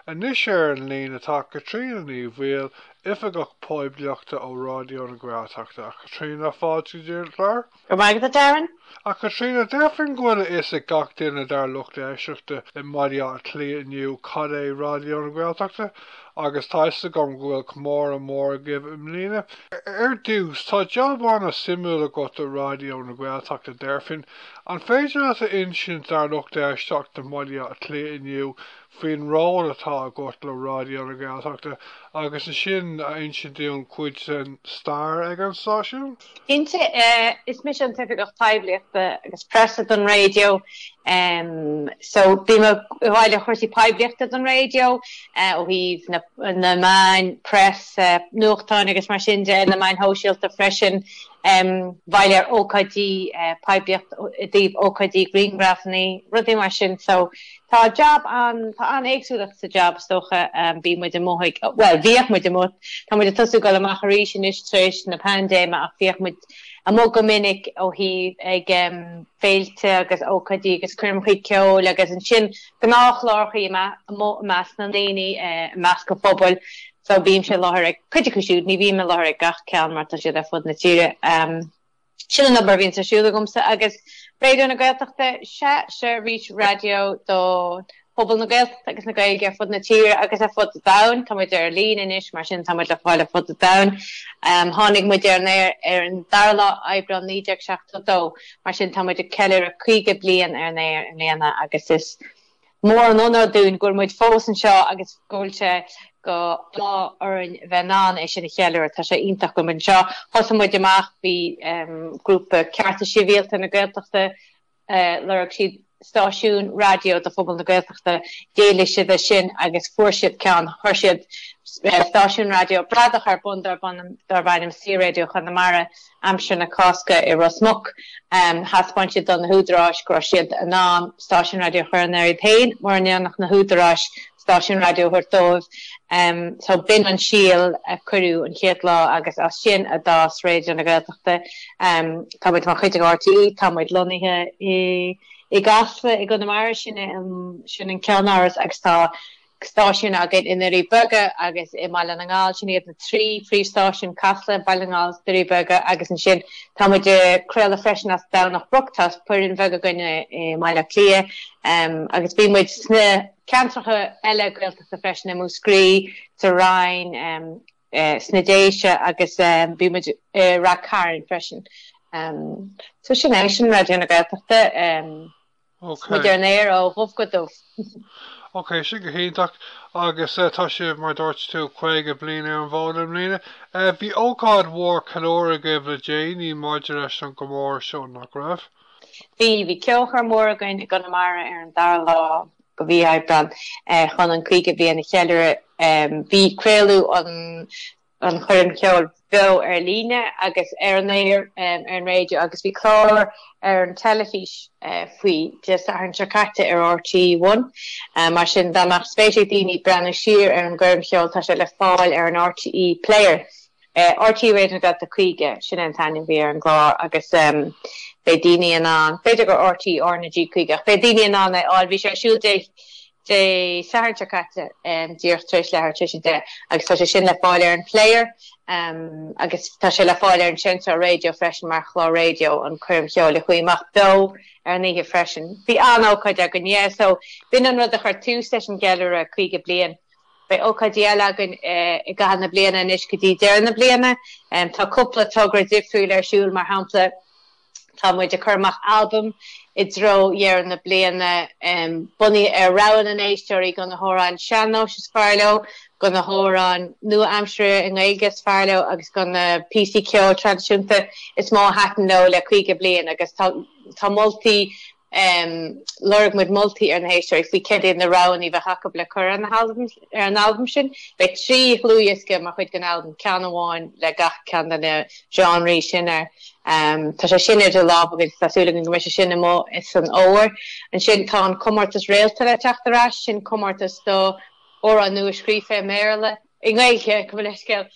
Anois ar an líne tá Caitríona Ní Bhaoill, Oifigeach Poiblíochta ó Ráidió na Gaeltachta. A Chaitríona, fáilte go dtí an clár. Go raibh maith agat, a Darren. A Chaitríona, déarfainn go bhfuil a fhios ag gach duine dár lucht éisteachta i mBaile Átha Cliath inniu cad é Ráidió na Gaeltachta, agus tá a fhios agam go bhfuil comóradh mór agaibh i mbliana. Ar dtús, tá jab an-suimiúil agat i Ráidió na Gaeltachta, déarfainn. An féidir leat a insint dár lucht éisteachta i mBaile Átha Cliath inniu faoin ról atá agat le Ráidió na Gaeltachta agus ansin a insint dúinn cuid den stair ag an stáisiún? Cinnte, is mise an tOifigeach Poiblíochta agus Preasa don Raidió, so bím i bhfeighil cúrsaí poiblíochta don raidió ó thaobh na meáin, preas, nuachtáin agus mar sin de, na meáin shóisialta freisin, i bhfeighil ar ócáidí, poiblíocht i dtaobh ócáidí, grianghrafanna, rudaí mar sin, so Tá jab, tá an-éagsúlacht sa jab, is dócha. Bíonn muid amuigh ag, bhuel, bhíodh muid amuigh, tá muid ag tosú ag dul amach arís anois tar éis na paindéime ach bhíodh muid amuigh go minic ó thaobh ag féilte agus ócáidí agus coirmeachaí ceoil agus ansin gnáthchlárachaí amuigh i measc na ndaoine, i measc an phobail so bímse i láthair ag cuid acu siúd, ní bhím i láthair ag gach ceann mar tá siad ar fud na tíre. Sin an obair a bhíonn ar siúl agamsa agus Raidió na Gaeltachta, 'sé seirbhís raidió do phobal na Gaeltachta agus na Gaeilge ar fud na tíre agus ar fud an domhain. Tá muid ar líne anois, mar sin tá muid le fáil ar fud an domhain. Um, tháinig muid ar an aer ar an dara lá Aibreán 1972, mar sin tá muid ag ceiliúradh 50 bliain ar an aer i mbliana agus is Mór an onóir dúinn go bhfuil muid fós anseo agus go bhfuil sé d'ádh orainn a bheith in ann é sin a cheiliúradh. Tá sé iontach go bhfuil muid anseo. Thosaigh muid amach, bhí grúpa Cearta Sibhialta na Gaeltachta, lorg siad stáisiún raidió do phobal na Gaeltachta, d'éiligh siad é sin agus fuair siad ceann, chuir siad stáisiún raidió bradach ar bun darbh ainm Saor-Raidió Chonamara. aimsir na Cásca i Ros Muc, thaispeáin siad do na húdaráis go raibh siad in ann stáisiún raidió a chur ar an aer iad féin mura ndéanfadh na húdaráis stáisiún raidió a thabhairt dóibh. So b'in an síol a cuireadh an chéad lá agus as sin a d'fhás Raidió na Gaeltachta. Tá muid mar chuid de RTÉ, tá muid lonnaithe i gCasla i gConamara, sin an ceannáras, agus tá stáisiún againn i nDoirí Beaga agus i mBaile na nGall. Sin iad na trí phríomhstáisiún, Casla, Baile na nGall, Doirí Beaga agus ansin tá muid ag craoladh freisin as Domhnach Broc. Tá foireann bheag againn i mBaile Átha Cliath agus bíonn muid sna ceantracha eile Gaeltachta freisin, i Múscraí, sa Rinn, sna Déise agus bíonn muid i Rath Cairn freisin. So sin é, sin Raidió na Gaeltachta. Ok. Muid ar an aer ó dhubh go dubh. Ok, sin go hiontach. Agus tá sibh, mar a dúirt tú, 50 bliain ar an bhfód i mbliana. Bhí ócáid mhór ceiliúradh agaibh le déanaí maidir leis an gcomóradh seo, nach raibh? Bhí. Bhí ceolchoirm mhór againn i gConamara ar an dara lá de mhí Aibreáin chun an caoga bliain a cheiliúradh. Bhí craoladh an. an choirm cheoil bheo ar líne agus ar an aer ar an raidió agus bhí clár ar an teilifís faoi Dé Sathairn seo caite ar RTÉ1. Mar sin, dá mbeadh spéis ag daoine breathnú siar ar an gcoirm cheoil, tá sé le fáil ar an RTÉ Player. RTÉ Raidió na Gaeltachta 50, sin é an t-ainm a bhí ar an gclár agus beidh daoine in ann, b'fhéidir gur RTÉ R na G50, ach beidh daoine in ann é a fháil. Bhí sé ar siúl Dé Dé Sathairn seo caite, díreach tar éis leathuair tar éis a deich, agus tá sé sin le fáil ar an Player agus tá sé le fáil ar an seinnteoir raidió freisin mar chlár raidió, an choirm cheoil a chuaigh amach beo ar an oíche freisin. Bhí an-ócáid againn, yeah, so b'in an rud a chuir tús leis an gceiliúradh 50 bliain. Beidh ócáidí eile againn i gcaitheamh na bliana anois go dtí deireadh na bliana. Tá cúpla togra difriúil ar siúl, mar shampla, Tá muid ag cur amach albaim i dtreo dheireadh na bliana, bunaithe ar rogha na n-éisteoirí, de na hamhráin sean-nóis is fearr leo, de na hamhráin nua-aimseartha i nGaeilge is fearr leo agus de na píosaí ceoil traidisiúnta is mó a thaitin leo le caoga bliain agus tá moltaí Lorg muid moltaí ar na héisteoirí faoi céard iad na roghanna a bheadh acu le cur ar an albam sin. Beidh trí dhlúthdhiosca mar chuid den albam, ceann amháin le gach ceann de na genre sin air. Tá sé sin idir lámha againn, tá súil againn go mbeidh sé sin amuigh insan fhómhar. Ansin tá an comórtas Réalta le teacht ar ais, sin comórtas do amhráin nua scríofa i mBéarla, i nGaeilge, gabh mo leithscéal.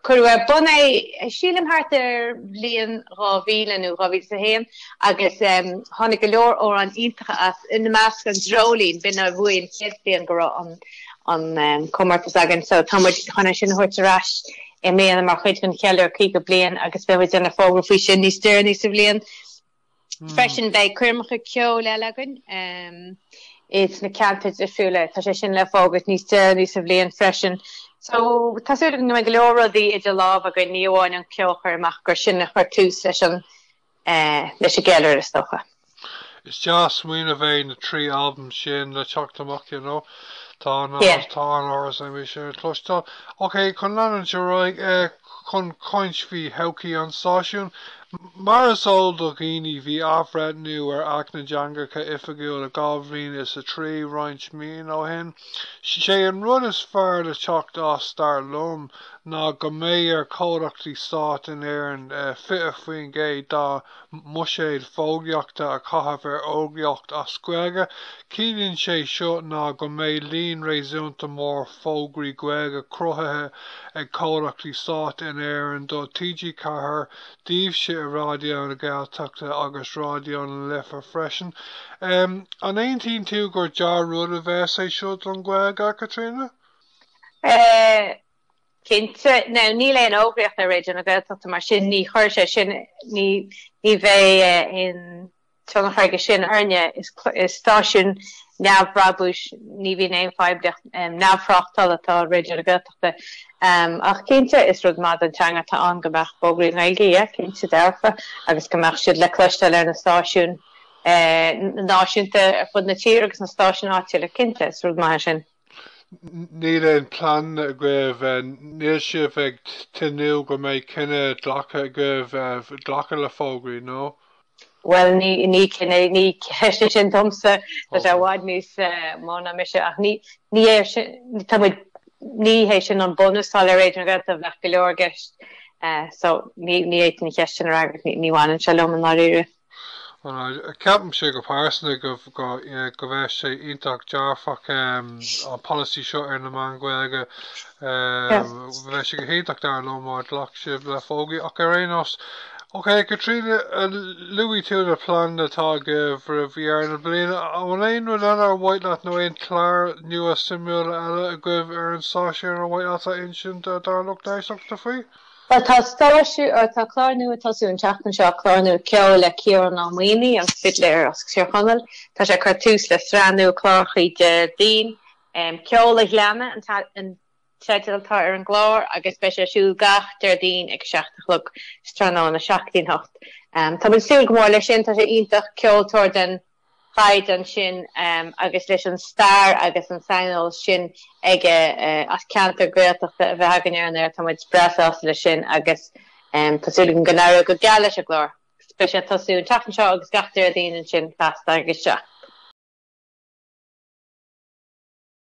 Cuireadh ar bun é, sílim, thart ar bhliain 2000 nó 2001 agus tháinig go leor amhráin iontacha as, ina measc An Dreoilín, b'in a bhuaigh an chéad bhliain go raibh an comórtas againn so tá muid chun é sin a thabhairt ar ais i mbliana mar chuid den cheiliúradh 50 bliain agus beidh muid ag déanamh fógra faoi sin níos deireanaí sa bhliain. Freisin beidh coirmeacha ceoil eile againn insna ceantair difriúla. Tá sé sin le fógairt níos deireanaí sa bhliain freisin. So, tá súil againn go mbeidh go leor rudaí idir lámh againn, ní amháin an ceolchoirm ach gur sin a chuir tús leis an leis an gceiliúradh is dócha. Is deas an smaoineamh é na trí albam sin le teacht amach, you know. Tá an tá an-ocras orm iad a chloisteáil. Ok, chun leanúint ar aghaidh, chun caint faoi thodhchaí an stáisiúin. Mar is eol do dhaoine, bhí athbhreithniú ar Acht na dTeangacha Oifigiúla dhá mhíle is a trí roinnt míonna ó shin. 'Sé an rud is fearr le teacht as, dar liom, ná go mbeidh ar chomhlachtaí stáit in Éirinn 20% dá mbuiséad fógraíochta a chaitheamh ar fhógraíocht as Gaeilge. Ciallaíonn sé seo ná go mbeidh líon réasúnta mór fógraí Gaeilge cruthaithe ag comhlachtaí stáit in Éirinn do TG4, daoibhse i Raidió na Gaeltachta agus Raidió na Life freisin. An aontaíonn tú gur dea-rud a bheas é seo don Ghaeilge, Caitríona? Cinnte. Now, níl aon fhógraíocht ar Raidió na Gaeltachta, mar sin ní chuir sé sin, ní bheidh aon tionchar aige sin orainne is stáisiún neamhbhrabúis, ní bhíonn aon phoiblíocht neamhthráchtála atá i Raidió na Gaeltachta. Ach cinnte, is rud maith don teanga atá ann go mbeadh fógraí i nGaeilge, yeah, cinnte dearfa, agus go mbeadh siad le cloisteáil ar na stáisiúin náisiúnta ar fud na tíre agus na stáisiúin áitiúla, cinnte, is rud maith é sin. Níl aon plean agaibh, níl sibh ag tnúth go mbeidh cinneadh glactha agaibh glacadh le fógraí, nó? Bhuel, ní cinneadh, ní ceist é sin domsa, tá sé i bhfad níos mó ná mise, ach ní hé sin, tá muid, ní hé sin an bunús atá le Raidió na Gaeltachta, bheadh go leor i gceist, so ní fhéadfainn an cheist sin a fhreagairt, ní bhaineann sé liom i ndáiríre. Ceapaimse go pearsanta go bheadh sé iontach dearfach an polasaí seo ar na meáin Ghaeilge. Bheadh sé go hiontach dar liom má ghlac sibh le fógraí ach ar aon nós. Ok, Caitríona, luaigh tú na pleananna atá agaibh roimh dheireadh na bliana. An aon rud eile ar mhaith leat nó aon chláir nua suimiúla eile agaibh ar an stáisiún ar mhaith leat a insint dár lucht éisteachta faoi? Bhuel tá stáisiú, or tá clár nua ag tosú an tseachtain seo, clár nua ceoil le Ciarán Ó Maonaigh, an fidléir as Tír Chonaill. Tá sé ag cur tús le sraith nua clárachaí Déardaoin, Ceol a Ghleanna an teideal atá ar an gclár agus beidh sé ar siúl gach Déardaoin ag a seacht a chlog, sa tráthnóna, seacht go dtí an hocht. Tá muid ag súil go mór leis sin, tá sé iontach, ceoltóir den chaighdeán sin agus leis an stair agus an saineolas sin aige as ceantar Gaeltachta a bheith againn ar an aer. Tá muid breá sásta leis sin agus tá súil againn go n-éireoidh go geal leis an gclár. Beidh sé ag tosú an tseachtain seo agus gach Déardaoin ansin feasta ag a seacht.